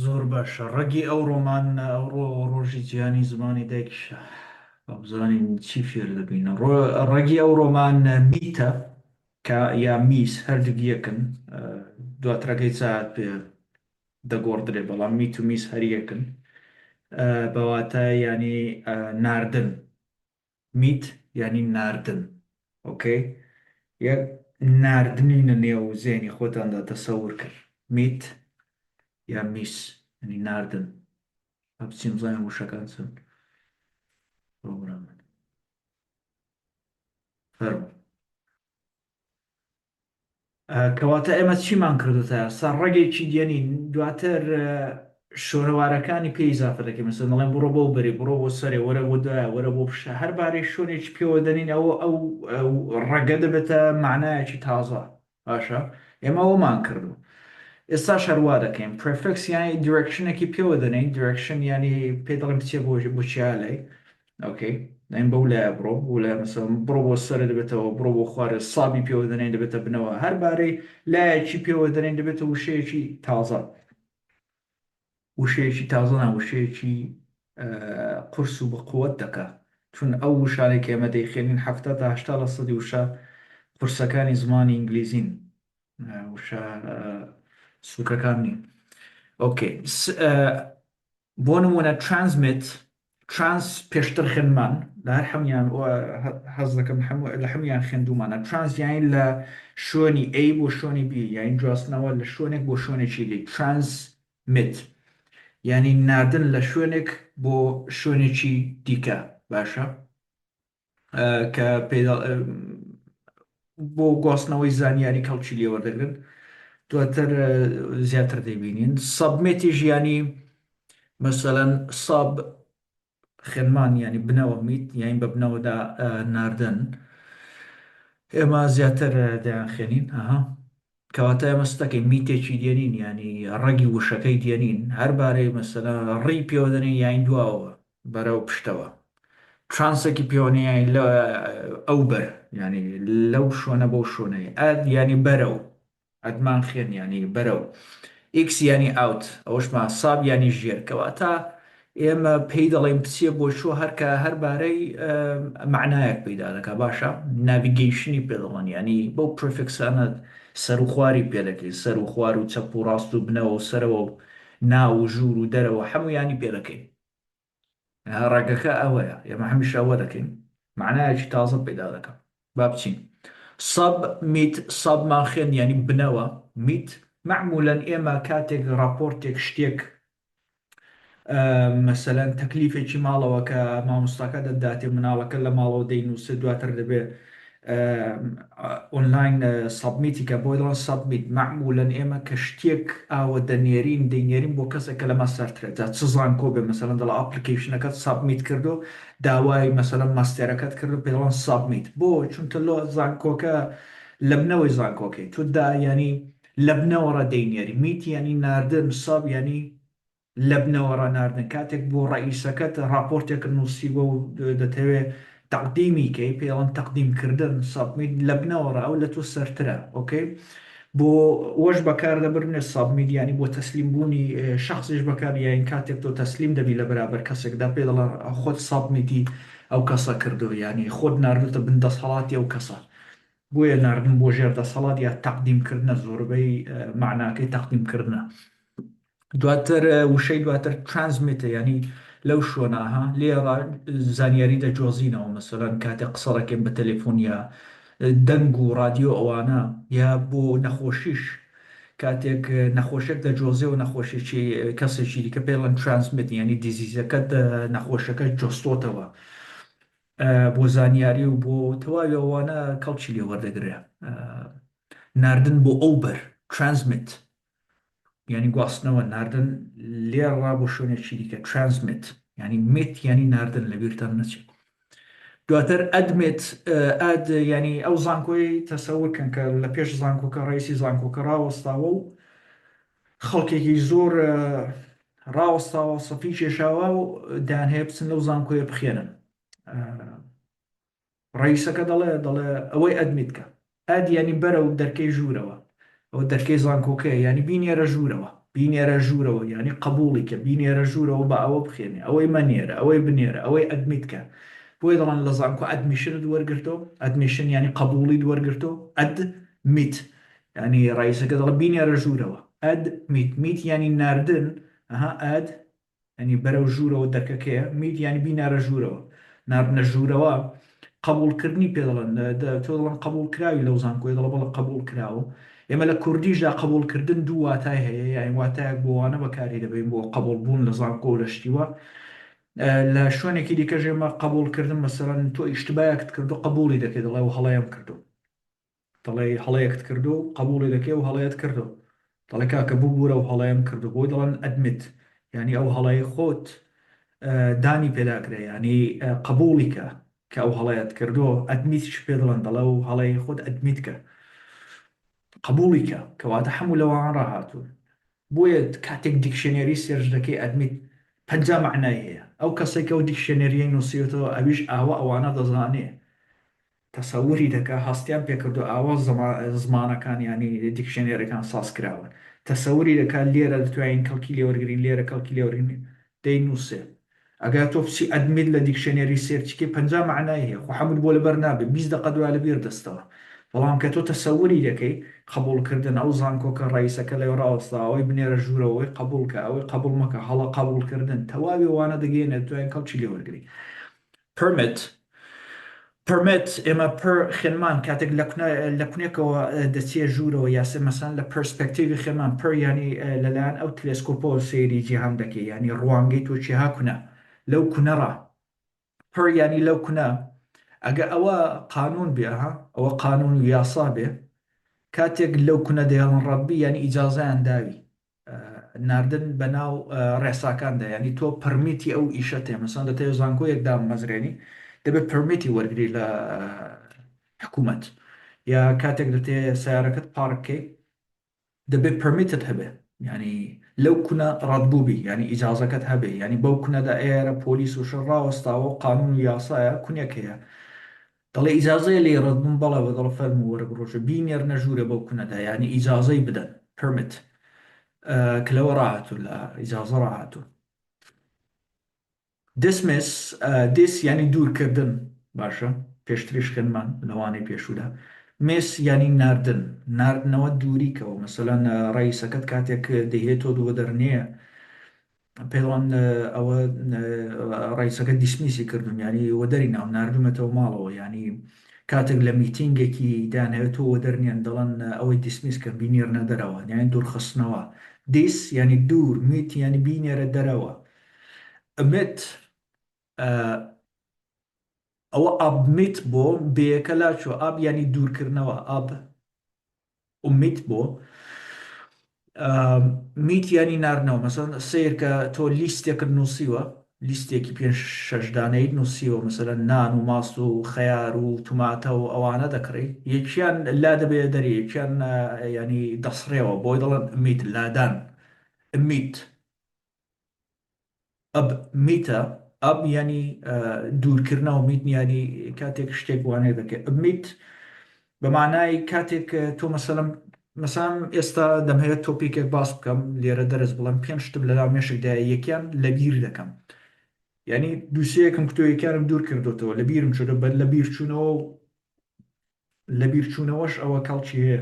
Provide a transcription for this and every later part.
زۆر باشە ڕەگی ئەو ڕۆمانە ئەو ڕۆ ڕۆژی جیهانی زمانی دایکیشە با بزانین چی فێر دەبین ڕۆ- ڕەگی ئەو ڕۆمانە میتە کە یا میس هەردووک یەکن ئە، دواترەکەی چات پێ دەگۆڕدرێ بەڵام میت و میس هەر یەکن ئە، بە واتای یانی ئە، ناردن میت یانی ناردن ئۆکەی یە ناردنی نە نێو زێنی خۆتاندا تەسەور کرد میت یا میس یانی ناردن با بچین بزانین وشەکان چۆن پرۆگرامن فەرموو کەواتە ئێمە چیمان کردوتە سەر ڕەگێکی دێنین دواتر شۆرەوارەکانی پێی زافە دەکەین مەسەن دەڵێن بڕۆ بۆ بەری بڕۆ بۆ سەرێ وەرە بۆ دوایە وەرە بۆ پیشە هەر بارەی شوێنێکی پێوە دەنین ئەوە ئەو ڕەگە دەبێتە معنایەکی تازە باشە ئێمە ئەومان کردو ئێستا شەروا دەکەین پرفکس یانی دیرکشنێکی پێوە دەنین دیرکشن ینی پێ دەڵێن بچێ بۆژی بچیالەی ئۆکەی نایم بەو لایە بڕۆ بۆ لای مەسەڵەن بڕۆ بۆ سەرە دەبێتەوە بڕۆ بۆ خوارێ سابی پێوە دەنێن دەبێتە بنەوە هەر بارەی لایەکی پێوە دەنێن دەبێتە وشەیەکی تازە وشەیەکی تازە نا وشەیەکی قرس و بەقوت دەکا چون ئەو وشانێک ئێمە دەیخێنین هەفتا تا هشتا لە سەدی وشە قورسەکانی زمانی ئینگلیزین وشە سوکەکان نین ئۆکەی بۆ نموونە Transmit، Trans پێشتر خوێندمان لە هەر حەمیان و حەز دەکەم لە حەمیان خوێندومانە Trans یانی لە شوێنی A بۆ شوێنی B یانی جواستنەوە لە شوێنێک بۆ شوێنێکی دی Transmit یانی ناردن لە شوێنێک بۆ شوێنێکی دیکە باشە؟ کە بۆ گواستنەوەی زانیاری کەڵکی لێوەردەگرن دواتر زیاتر دەبینین سەبمێتی ژیانی مەسەەن ساب خێنمان ینی بنەوە میت یاین بە بنەوەدا ناردن ئێمە زیاتر دەیان خێنین ئەها کەواتە ئێمە ستەکەی میتێکی دێنین ینی ڕەگی وشەکەی دێنین هەربارەی مەسەلا ڕی پێوەدەنین یاین دواوە بەرەو پشتەوە ترانسێکی پێوەنیای لە ئەو بەر یانی لەو شوێنە بەو شوێنەی ئەد یانی بەرەو ئەدمان خێن یانی بەرەو ئیکس یانی ئاوت ئەوشمان ساب یانی ژێر کەواتە ئێمە پێی دەڵێن بچێ بۆ چۆ هەرکە هەربارەی معنایەک پیدا دەکە باشە ناویگەیشنی پێ دەڵێن یانی بەو پرفکسانە سەر و خواری پێ دەکەین سەر و خوار و چەپ و ڕاست و بنەوە و سەرەوە و ناو و ژوور و دەرەوە هەموو یانی پێ دەکەین ڕەگەکە ئەوەیە ئێمە هەمیشە ئەوە دەکەین معنایەکی تازە پەیدا دەکەم با بچین سەب میت سەب مان خوێن یعنی بنەوە میت معمولەن ئێمە کاتێک ڕاپۆرتێک شتێک مەسەەن تەکلیفێکی ماڵەوە کە مامۆستاکە دەداتێ مناڵەکە لە ماڵەوە دەینووسێ دواتر دەبێ ئۆنلاین سەبمیتی کە بۆی دەڵێن سەبمیت مەعمولەن ئێمە کە شتێک ئاوە دەنێرین دەینێرین بۆ کەسێک کە لەمە سەرترە جا چ زانکۆ بێ مەسەلەن دەڵێ ئاپلیکەیشنەکەت سەبمیت کردو داوای مەسەلەن ماستێرەکەت کردو پێی دەڵێن سەبمیت بۆ چونکە لۆ زانکۆکە لەبنەوەی زانکۆکەی تۆ دا یانی لەبنەوەڕە دەینێری میت یانی ناردن سەب یانی لەبنەوە ڕاناردن کاتێک بۆ ڕەئیسەکەت ڕاپۆرتێکت نووسیوە و دەتەوێ تەقدیمی کەی پێی ئەڵێن تەقدیم کردن، Submit، لەبنەوە ڕا ئەو لەتۆ سەرترە ئۆکەی بۆ وەش بەکار دەبرنێ Submit یانی بۆ تەسلیم بوونی شەخسیش بەکار یاین کاتێک تۆ تەسلیم دەبی لە بەرابەر کەسێکدا پێی دەڵێن خۆت Submit-ی ئەو کەسە کردووە یانی خۆت ناردووتە بن دەسهەڵاتی ئەو کەسە بۆیە ناردن بۆ ژێر دەسەڵات یا تەقدیم کردنە زۆربەی مەعناکەی تەقدیم کردنە. دواتر وشەی دواتر Transmit-ە یانی لەو شوەناها لێرا زانیاری دەجۆزینەوە مەسەلەن کاتێ قسە دەکەین بە تەلێفون یا دەنگ و ڕادیۆ ئەوانە یا بۆ نەخۆشیش کاتێک نەخۆشێک دەجۆزێەوە نەخۆشێکی کەسێکی دیکە پێ ڵەن Transmit یانی دیزیزەکەت نەخۆشەکە جۆستۆتەوە بۆ زانیاری و بۆ تەواوی ئەوانە کەڵکی لێ وەردەگرێ ناردن بۆ ئەو بەر Transmit یانی گواستنەوە ناردن لێڕا بۆ شوێنێکی دیکە ترانسمیت یانی میت یانی ناردن لە بیرتان نەچێت دواتر ئەدمێت ئەد ینی ئەو زانکۆی تەسەورکەن کە لە پێش زانکۆکە ڕیسی زانکۆکە ڕاوەستاوە و خەڵکێکی زۆر ڕاوەستاوە سەفی کێشاوە و دان هەیە بچن لەو زانکۆیە بخێنن ڕەئیسەکە دەڵێ دەڵێ ئەوەی ئەدمیت کە. ئەد یانی بەرەو دەرکەی ژوورەوە. ئەوە دەرکەی زانکۆکەیە یانی بینێرە ژوورەوە. بینێرە ژوورەوە یانی قەبووڵی کە. بینێرە ژوورەوە با ئەوە بخوێنێ. ئەوەی مەنێرە. ئەوەی بنێرە. ئەوەی ئەدمیت کە. بۆیە دەڵێن لە زانکۆ ئەدمیشنت وەرگرتۆ. ئەدمیشن یانی قەبووڵیت وەرگرتۆ. ئەد میت یانی ڕەئیسەکە دەڵێ بینێرە ژوورەوە. ئەد میت میت یانی ناردن ئەها ئەد یانی بەرەو ژوورەوە دەرکەکەیە، میت یانی بینەرە ژوورەوە، ناردنە ژوورەوە قەبووڵکردنی پێ دەڵێن، تۆ دەڵێن قەبووڵکراوی لەو زانکۆیە، دەڵێ بەڵێ قەبووڵکراوم، ئێمە لە کوردیشدا قەبووڵکردن دوو واتای هەیە، یانی واتایەک بۆ وانە بەکاری دەبەین بۆ قەبووڵبوون لە زانکۆ و لە شتی وا، لە شوێنێکی دیکەش ئێمە قەبووڵکردن مەسەلەن تۆ ئیشتبایەکت کردووە قەبووڵی دەکەی دەڵێ ئەو هەڵەیەم کردووە. دەڵێی هەڵەیەکت کردووە و قەبوڵی دەکەی ئەو هەڵەیەت کردووە دەڵێ کاکە ببورە ئەو هەڵەیەم کردووە بۆی دەڵێن ئەدمیت یانی ئەو هەڵەی خۆت دانی پێدا کرێ یانی قەبوڵی کە کە ئەو هەڵەیەت کردووە ئەدمیت چ پێ دڵن دەڵێ و هەڵەی خۆت ئەدمیت کە قەبوڵی کە کەواتە هەموو لەوان ڕاهاتوون بۆیە کاتێک دیکشنێری سێرج دەکەی ئەدمیت پەنجا مەعنای هەیە ئەو کەسێکە و دیکشنێریە نووسیێتەوە ئەویش ئاوە ئەوانە دەزانێ تەسەوری دەکا هەستیان پێکردوە ئاوا زمانەکان یانی دیکشنەرەکان ساز کراون تەسەوری دەکا لێرە دەتوانین کەڵکی لێوەرگرین لێرە کەڵکی لێوەرگرین دەینوسێ ئەگا تۆ بچی ئەدمیت لە دیکشنەری سێرچ کەی پەنجا مەعنای هەیە خۆ حەموت بۆ لەبەر نابێ بیست دەقە دوا لەبیر دەستەوە بەڵام کە تۆ تەسەوری دەکەی قبوڵ کردن ئەو زانکۆکە ڕەیسەکە لەوێ ڕاوەستاوە ئەوەی بنێرە ژورەوە ئەوەی قبوڵ کە ئەوەی قبوڵ مەکە هەڵە قبوڵ کردن تەواوی وانە دەگەینە دەتوانین کەڵکی لێوەرگرین Permit Permit ئێمە پر خێنمان کاتێک لە کونێکەوە دەچیە ژوورەوە یا سێ مەسان لە پرسپێکتیڤی خێنمان پر یانی لەلایەن ئەو تلێسکۆپەوە سەیری جیهان دەکەی یانی ڕوانگەی تۆ چیە ها کونە لەو کونەڕا پر یانی لەو کونە ئەگە ئەوە قانون بێ ها ئەوە قانون و یاسا بێ کاتێک لەو کونە دەیەڵن ڕەبی یانی ئیجازەیان داوی ناردن بە ناو ڕێساکاندا یانی تۆ پڕمیتی ئەو ئیشە تێ مەسان دە تێ زانکۆیەک دامەزرێنی دەبێت پرمیتی وەرگری لە حکوومەت یا کاتێک دەتێ سیارەکەت پارکەی دەبێت پرمیتت هەبێ ینی لەو کونە ڕەتبووبی ینی ئیجاازەکەت هەبێ ینی بەو کونەدا ئێرە پۆلیس و شەڕاوەستاوە قانون و یاسایە کونێک هەیە دەڵێ ئیجازەیە لێی ڕەد بم؟ بەڵێ و دەڵێ فەرموو وەرە بڕۆژە، بینێرنە ژوورێ بەو کونەدا، یانی ئیجازەی بدەن، Permit، کە لەوە ڕاهاتوو، لە ئیجازە ڕاهاتوو. Dismiss، Dis، یانی دوورکردن، باشە، پێشتریش خوێندمان لە وانەی پێشوودا، Miss، یانی ناردن، ناردنەوە دووریکەوە، مەسەلەن ڕەئیسەکەت کاتێک دەیهێتۆ دووەدەرنێ، پێڵان ئەوە ڕئیسەکە دیسمیسی کردم یانی وەدەری ناو ناردومەتەوە ماڵەوە یانی کاتێک لە میتینگێکی دانەوێت تۆ وەدەر نیان دەڵەن ئەوەی دیسمیس کرد بینێرنە دەرەوە یانی دوورخستنەوە دیس یانی دوور میت یانی بینێرە دەرەوە ئەمێت ئەوە ئابمیت بۆ بەیەکە لاچۆ ئاب یانی دوورکردنەوە ئاب ئومیت بۆ میت یانی ناردنەوە مەسەن سیر کە تۆ لیستێکت نووسیوە لیستێکی پێ شەش دانەیت نووسیوە مەسەرە نان و ماست و خەیار و توماتە و ئەوانە دەکڕی یەکیان لا دەبێ دەری یەکیان ینی دەسڕێەوە بۆی دەڵێن میت لادان میت ئەب میتە، ئەب یانی دوورکردنەوە، میت یانی کاتێک شتێک وانەی دەکەی، ئەب میت بە مانای کاتێک تۆ مەسەلەن مەسام ئێستا دەمهەوێت تۆپیکێک باس بکەم لێرە دەرس بڵم پێنج شتم لەناو مێشکدا یەکیان لەبیر دەکەم یعنی دووسەیەکم کتۆیەکانم دوور کردوتەوە لە بیرم چۆدە بەر لە بیرچوونەوە لە بیرچوونەوەش ئەوە کەڵکی هەیە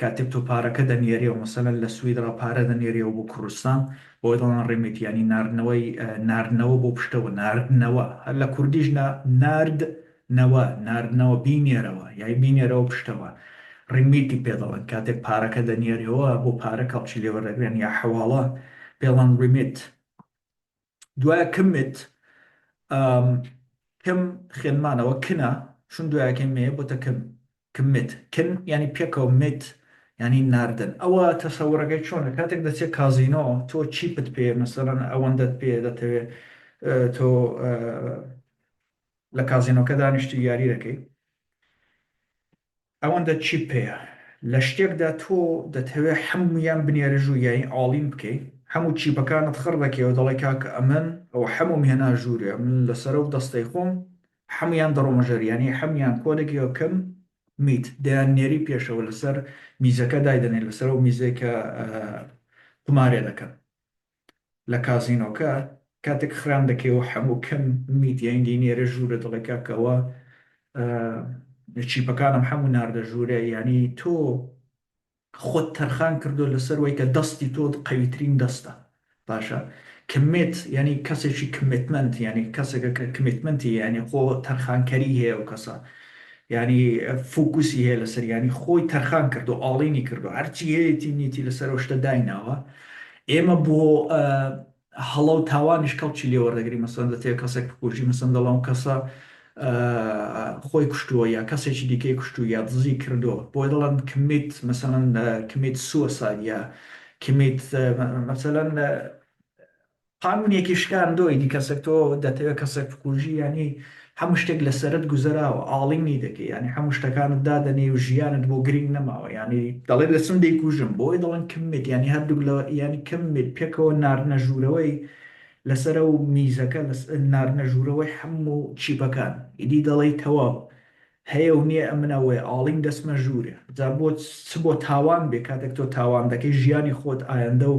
کاتێک تۆ پارەکە دەنێرێو مەسەلەن لە سویدڕا پارە دەنێرێوە بۆ کوردستان بۆی دەڵێن ڕیمیت یانی ناردنەوەی ناردنەوە بۆ پشتەوە ناردنەوە هەر لە کوردیش نا نارد نەوە ناردنەوە بینێرەوە یای بینێرەوە پشتەوە ڕیمیتی پێ دەڵێن کاتێک پارەکە دەنێرێوە بۆ پارە کەڵکی لێوەردەگرن یا حەواڵە پێڵان ڕیمیت. دوایە کم مت کم خێنمانەوە کنە شون دوایەکەی مێ بۆتە کم کم مت کن یعنی پێکەوە مت یعنی ناردن ئەوە تەسەوڕەکەی چۆنە کاتێک دەچێت کازینۆ تۆ چیپت پێ مەسەرەن ئەوەندەت پێ دەتەوێت تۆ لە کازینۆکە دانیشتی یاری دەکەی ئەوەندە چیت پێیە لە شتێکدا تۆ دەتهەوێ حەموویان بنێرێ ژوور یانی ئاڵین بکەی حەموو چیپەکانت خڕ دەکەی و دەڵێ کاکە ئەمن ئەوە حەمووم هێنا ژوورێ من لە سەرەو دەستەی خۆم حەموویان دەڕۆمە ژەر یانی حەموویان کۆ دەکەی و کم میت دەیان نێری پێشەوە لە سەر میزەکە دایدەنێی لە سەرەو میزەی کە قومارێ دەکەن لە کازینۆکە کاتێک خرام دەکەیەوە حەموو کەم میدیای دینێرە ژوورە دەڵێ کاکەوە چیپەکانم حەموو ناردە ژوورە یانی تۆ خۆت تەرخان کردو لەسەر وەی کە دەستی تۆ قەویترین دەستە باشە کمێت یعنی کەسێکی کمتمنت یعنی کەسێکە کە کمیتمنتی یعنی خۆ تەرخانکەری هەیە و کەسە یعنی فوکوسی هەیە لەسەر ینی خۆی تەرخان کردو ئاڵینی کردو هەرچی هەیەتی نیتی لەسەر شتە دایناوە ئێمە بۆ هەڵە و تاوانیش کەڵکی لێ وەردەگرین، مەسەلەن دەتەوێت کەسێک بکوژی، مەسەلەن دەڵێن ئەو کەسە خۆی کوشتووە یا کەسێکی دیکەی کوشتووە یا دزی کردووە، بۆیە دەڵێن کمیت، مەسەلەن کمیت سوساید یا کمیت، مەسەلەن قانوونێکی شکاندۆیدی کەسێک، تۆ دەتەوێت کەسێک بکوژی یانی هەموو شتێک لەسەرت گوزەراوە ئاڵینی دەکەی یانی هەموو شتەکانت دادەنێی و ژیانت بۆ گرینگ نەماوە یانی دەڵێت لە چم دەیکوژم بۆی دەڵێن کم میت یانی هەردووک لە یانی کم میت پێکەوە ناردنە ژوورەوەی لەسەر ئەو میزەکە لەس ناردنە ژوورەوەی هەموو چیپەکان ئیدی دەڵێی تەواو هەیە و نیە ئەمن ئەوەیە ئاڵین دەچمە ژورێ جا بۆ چ بۆ تاوان بێ کاتێک تۆ تاوان دەکەی ژیانی خۆت ئایندە و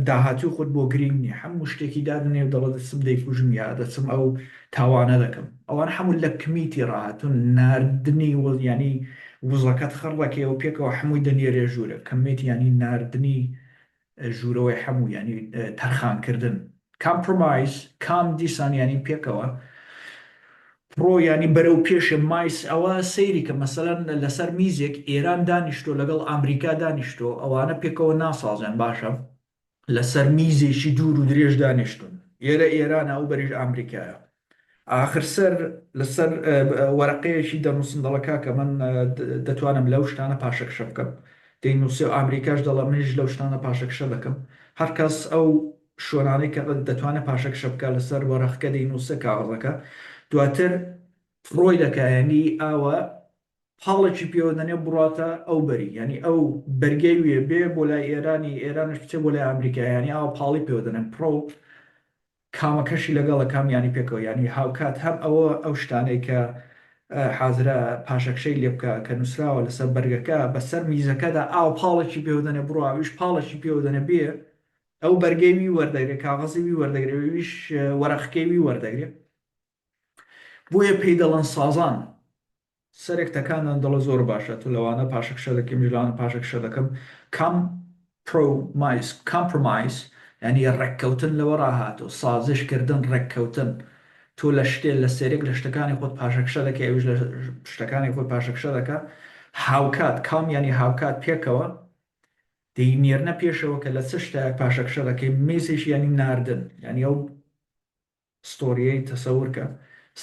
داهاتوی خۆت بۆ گرینگ نیە حەمو شتێکی دادەنێ و دەڵێ دەچم دەیکوژم یا دەچم ئەو تاوانە دەکەم ئەوان حەمو لە کمیتی ڕاهاتون ناردنی وز یانی وزەکەت خڕ دەکەیەوە پێکەوە حەموی دەنێرێ ژورێ کمیت یانی ناردنی ژوورەوەی حەموو یانی تەرخان کردن. کامپرۆمایز، کام دیسان یانی پێکەوە. پرۆ یانی بەرەو پێشێ مایس ئەوە سەیری کە مەسەلەن لەسەر میزێک ئێران دانیشتۆ لەگەڵ ئامریکا دانیشتۆ ئەوانە پێکەوە ناسازێن باشە لەسەر میزێکی دوور و درێژ دانیشتون ئێرە ئێرانە ئەو بەریش ئامریکایە ئاخر سەر لەسەر وەرەقەیەکی دەنووسن دەڵێ کاکە من دەتوانم لەو شتانە پاشەکشە بکەم دەینووسێ و ئامریکاش دەڵێ منیش لەو شتانە پاشەکشە دەکەم هەر کەس ئەو شوێنانەی کە دەتوانێ پاشەکشە بکا لەسەر وەرەخکە دەینووسێ کاغەزەکە دواتر فڕۆی دەکا یانی ئاوا پاڵێکی پێوە دەنێ بڕاتە ئەو بەری یانی ئەو بەرگەی وێ بێ بۆ لای ئێرانی ئێرانش بچێ بۆ لای ئامریکا یانی ئاوا پاڵی پێوە دەنێن پڕۆ کامەکەشی لەگەڵە کام یانی پێکەوە یانی هاوکات هەم ئەوە ئەو شتانەی کە حازرە پاشەکشەی لێ بکە کە نووسراوە لەسەر بەرگەکە بەسەر میزەکەدا ئاو پاڵێکی پێوە دەنێ بڕۆ ئەویش پاڵێکی پێوە دەنێ بێ ئەو بەرگەی وی وەردەگرێ کاغەزی وی وەردەگرێ ئەویش وەرەقکەی وی وەردەگرێ بۆیە پێی دەڵێن سازان سەرێک تەکاندان دەڵێ زۆر باشە تۆ لەوانە پاشەکشە دەکەی منیش لەوانە پاشەکشە دەکەم کام پرۆمایس Compromise یانی ڕێککەوتن لەوەڕا هاتووە سازش کردن ڕێککەوتن تۆ لە شتێ لە سەرێک لە شتەکانی خۆت پاشەکشە دەکەی ئەویش لە شتەکانی خۆی پاشەکشە دەکا هاوکات کام یانی هاوکات پێکەوە دەینێرنە پێشەوە کە لە چ شتایەک پاشەکشە دەکەی میسیش یانی ناردن یانی ئەو ستۆریەی تەسەور کە.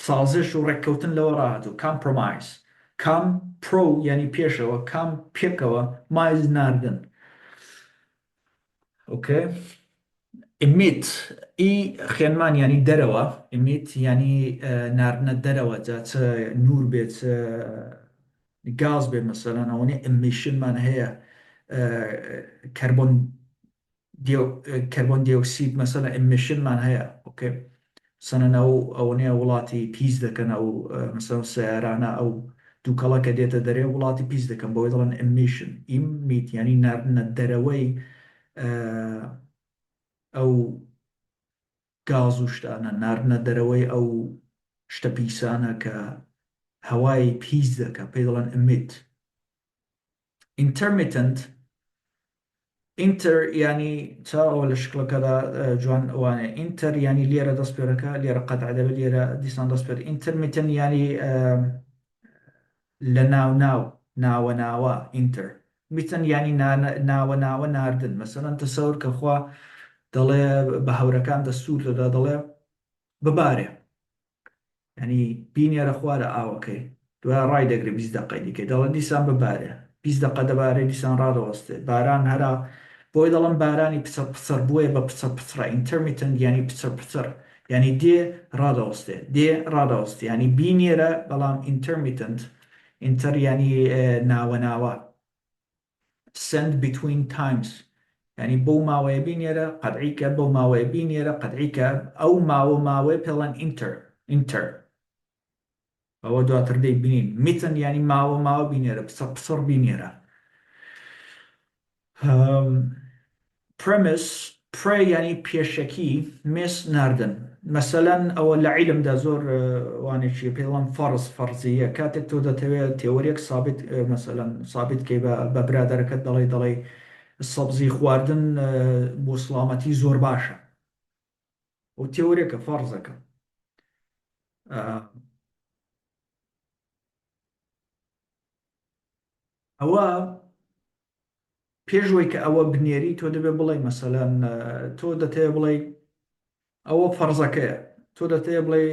سازش و ڕێککەوتن لەوە ڕاهاتوو، Compromise. کام، Pro، یانی پێشەوە، کام، پێکەوە، Mise، ناردن. ئۆکەی. Emit، ی خێنمان یانی دەرەوە، Emit، یانی ناردنە دەرەوە جا چ نوور بێ چ گاز بێ مەسەلەن ئەوەنەی Emission مان هەیە کەربۆن کەربۆن دیۆکسید مەسەلەن ئیمیشن مان هەیە ئۆکەی مەسەلەن ئەو ئەوەنەیە وڵاتی پیس دەکەن ئەو مەسەلەن سەیارانە ئەو دووکەڵە کە دێتە دەرێ وڵاتی پیس دەکەن بەوەی دەڵێن ئیمیشن ئیمیت یانی ناردنە دەرەوەی ئەو گاز و شتانە ناردنە دەرەوەی ئەو شتە پیسانە کە هەوای پیس دەکە پێی دەڵێن ئیمیت Intermittent Inter یانی چاوە لە شکڵەکەدا جوان وانێ Inter یانی لێرە دەستپێرەکە لێرە قەتع دەبێت لێرە دیسان دەستپێر Intermittent یانی لە ناو ناو ناوە ناوە Inter میتن یانی ناوە ناوە ناردن مەسەلەن تەسەور کە خوا دەڵێ بە هەورەکان دەستور دەدا دەڵێ ببارێ یانی بینێرە خوارە ئاوەکەی دوای ڕایدەگرێ بیست دەقەی دیکەی دەڵێ دیسان ببارێ بیست دەقە دەبارێ دیسان ڕادەوەستێ باران هەرا بۆی دەڵێن بارانی پچڕ پچڕ بۆیە بە پچڕ پچڕە ئینتەرمیتەنت یانی پچڕ پچڕ یانی دێ ڕادەوەستێ دێ ڕادەوەستێ یانی بینێرە بەڵام ئینتەرمیتەنت ئینتەر یانی ناوە ناوە. سەند بیتوین تایمز یانی بەو ماوەیە بینێرە قەدعی کە بەو ماوەیە بینێرە قەدعی کە ئەو ماوە ماوەیە پێڵان ئینتەر ئینتەر ئەوە دواتر دەی بینین میتن یانی ماوە ماوە بینێرە پسە پسڕ بینێرە پرمیس، Pre، یانی پێشەکی، Miss، ناردن. مەسەلەن ئەوە لە عیلمدا زۆر وانەیەکی پێی دەڵێن فەرز، فەرزییە، کاتێک تۆ دەتەوێ تێۆرییەک سابیت مەسەلەن سابیت کەی بە بە برادەرەکەت دەڵێی دەڵێی سەبزی خواردن بۆ سڵامەتی زۆر باشە. ئەو تێۆرییەکە فەرزەکە. ئەوە پێش وەی کە ئەوە بنێری تۆ دەبێ بڵێ مەسەلەن تۆ دەتەیە بڵێ ئەوە فەرزەکەیە تۆ دەتەیە بڵێ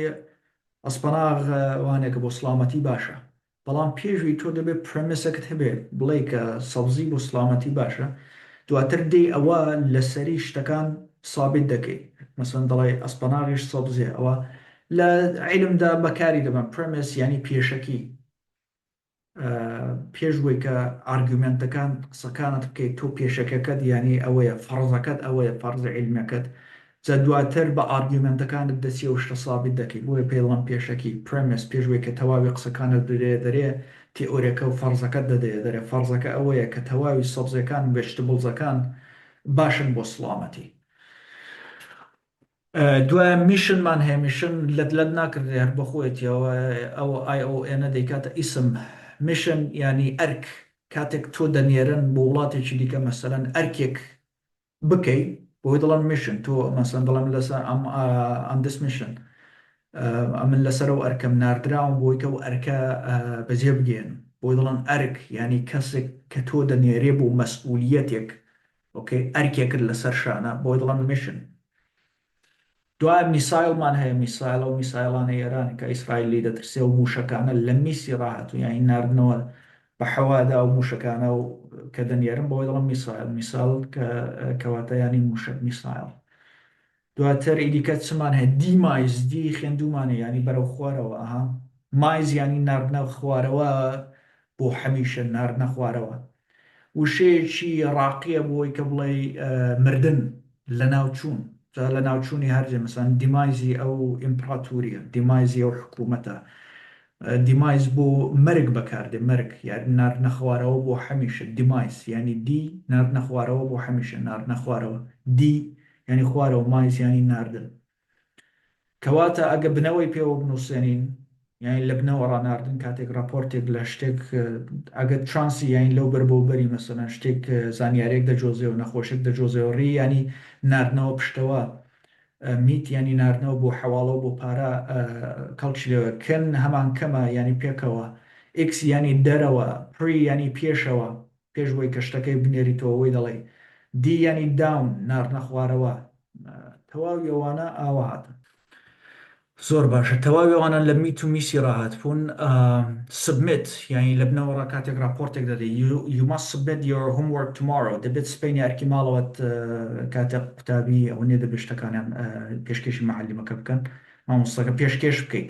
ئەسپەناغ وانێکە بۆ سلامەتی باشە بەڵام پێشوی تۆ دەبێت پرەمسەکت هەبێ بڵێ کە سەبزی بۆ سلامەتی باشە دواتر دی ئەوە لەسەری شتەکان سابت دەکەیت مەسەن دەڵێ ئەسپەناغیش سەبزێ ئەوە لە عیلمدا بەکاری دەبن پرەمس ینی پێشەکی پێش وەی کە ئارگومێنتەکان قسەکانت بکەیت تۆ پێشەکەکەت یانی ئەوەیە فەڕزەکەت ئەوەیە فەڕزە عیلمەکەت جا دواتر بە ئارگومێنتەکانت دەچی ئەو شتە سابیت دەکەی بۆیە پێی دەڵێن پێشەکی پرێمێس پێش وەی کە تەواوی قسەکانت بدەیە دەرێ تیئۆرێکە و فەڕزەکەت دەدەیە دەرێ فەڕزەکە ئەوەیە کە تەواوی سەبزەکان ڤێژتبڵزەکان باشن بۆ سڵامەتی دوایە میشن مان هەیە میشن لەت لەت ناکردرێ هەر بۆ خۆیەتیەوە ئەو ئای ئەو ئێنە دەیکاتە ئیسم میشن یانی ئەرک کاتێک تۆ دەنێرن بۆ وڵاتێکی دیکە مەسەلەن ئەرکێک بکەی بۆی دڵن میشن تۆ مەسەن دڵم لەسەر ئەم ئەم دس میشن ئەمن لەسەر و ئەرکەم ناردراوم بۆی کە و ئەرکە بەجێ بگێن بۆی دڵن ئەرک یانی کەسێک کە تۆ دەنێرێ بۆ مەسئولیەتێک ئۆکەی ئەرکێکت لەسەر شانە بۆی دڵم میشن دوایە میسایڵمان هەیە میسایڵ ئەو میسایڵانەی ئێران کە ئیسرائیل لی دەترسێ و موشەکانە لە میسی ڕاهاتوو یانی ناردنەوە بە حەوادا و موشەکانە و کە دەنێرن بۆی دڵم میسایڵ میسایڵ کە کەواتە یانی موشەک میسایڵ دواتر ئیدیکە چمان هەیە دی مایز دی خێندومانە یانی بەرەو خوارەوە ئەها مایز یانی ناردنە خوارەوە بۆ حەمیشە ناردنە خوارەوە وشەیەکی ڕاقیە بۆی کە بڵێی مردن لەناوچوون جا لەناوچوونی هەرجێ مەسەن دیمایزی ئەو ئیمپڕاتوریە دیمایزی ئەو حکوومەتە دیمایز بۆ مەرگ بەکاردێ مەرگ یاری ناردنە خوارەوە بۆ حەمیشە دیمایز یانی دی ناردنە خوارەوە بۆ حەمیشە ناردنە خوارەوە دی یانی خوارەوە مایس یانی ناردن کەواتە ئەگە بنەوەی پێوە بنوسێنین یانی لە بنەوە ڕا ناردن کاتێک ڕاپۆرتێک لە شتێک ئەگە ترانسی یانی لەو بەر بەو بەری مەسەلەن شتێک زانیارێک دەجۆزێ و نەخۆشێک دەجۆزێ و ڕی یانی ناردنەوە پشتەوە میت یانی ناردنەوە بۆ حەواڵە و بۆ پارە کەڵکی لەوە کن هەمان کەمە یانی پێکەوە ئیکس یانی دەرەوە پری یانی پێشەوە پێش وەی کە شتەکەی بنێریتەوە وەی دەڵێی دی یەنی داون ناردنە خوارەوە تەواوی ئەوانە ئاوا هاتن. زۆر باشە تەواوی ئەوانە لە میت و میسی ڕاهات بوون سبمیت یانی لە بنەوەڕا کاتێک راپۆرتێک دەدەی you must submit your homework tomorrow دەبێت سبەینێ ئەرکی ماڵەوەت کاتێ قوتابی ئەوەنێ دەبێت شتەکانیان پێشکێشی معلمەکە بکەن مامۆستاکە پێشکێش بکەیت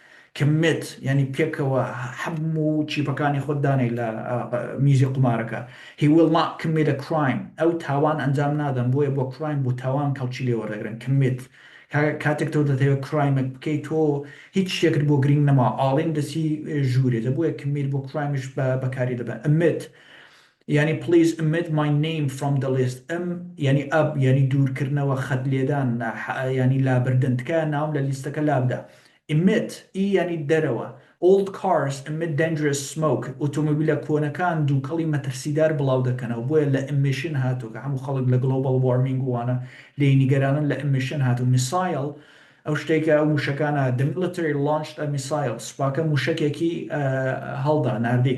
کمت یانی پێکەوە هەموو چیپەکانی خۆت دانێی لە میزی قومارەکە He will not commit a crime ئەو تاوان ئەنجام نادەن بۆیە بۆ کرایم بۆ تاوان کەڵکی لێ وەردەگرن کمت کاتێک تۆ دەتەوێت کرایمێک بکەیت تۆ هیچ شتێکت بۆ گرینگ نەما ئاڵین دەسی ژوورێتە بۆیە کمت بۆ کرایمش بە بەکاری دەبە ئەمت یانی پلیز امت مای نیم فرۆم دە لیست ام یانی اب یانی دوور کردنەوە خەت لێدان نا حئ یانی لابردن تکایە ناوم لە لیستەکە لابدە امت ی یانی دەرەوە ئۆڵد کارس امت دەنجرەس سمۆک ئۆتۆمبیلە کۆنەکان دووکەڵی مەترسیدار بڵاو دەکەنەوە بۆیە لە امشن هاتووە کە هەموو خەڵک لە گڵۆباڵ وارمینگ و وانە لێی نیگەرانن لە امشن هاتوو میسایڵ ئەو شتەی کە ئەو مووشەکانە دە میلیتری لانچد ئە میسایڵ سوپاکە مووشەکێکی هەڵدا ناردی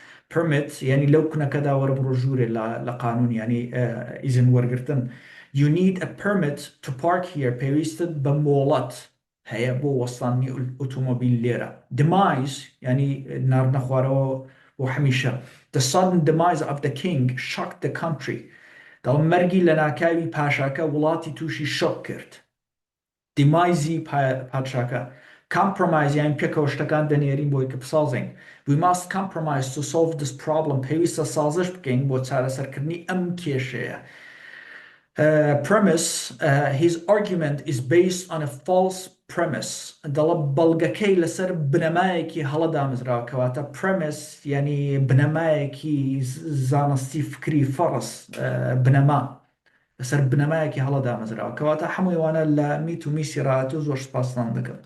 Permit، یانی لەو کونەکەدا وەرە بڕۆ ژوورێ لە لە قانون یانی ئیزن وەرگرتن You need a permit to park here پێویستت بە مۆڵەت هەیە بۆ وەستاندنی ئوتومبیل لێرە Demise، یانی ناردنە خوارەوە بۆ هەمیشە The sudden demise of the king shocked the country دەڵێن مەرگی لەناکاوی پاشاکە وڵاتی تووشی شۆک کرد. دیمایزی پادشاکە، Compromise یان پێکەوە شتەکان دەنێرین بۆی کە بسازین، We must compromise to solve this problem پێویستە سازش بکەین بۆ چارەسەرکردنی ئەم کێشەیە. Premise His argument is based on a false premise دەڵە بەڵگەکەی لەسەر بنەمایەکی هەڵە دامەزراوە کەواتە Premise یانی بنەمایەکی زانستی فکری فەڕز بنەما لەسەر بنەمایەکی هەڵە دامەزراوە کەواتە حەمووی ئەوانە لە میت و میسی ڕاهاتوو زۆر سوپاستان دەکەم.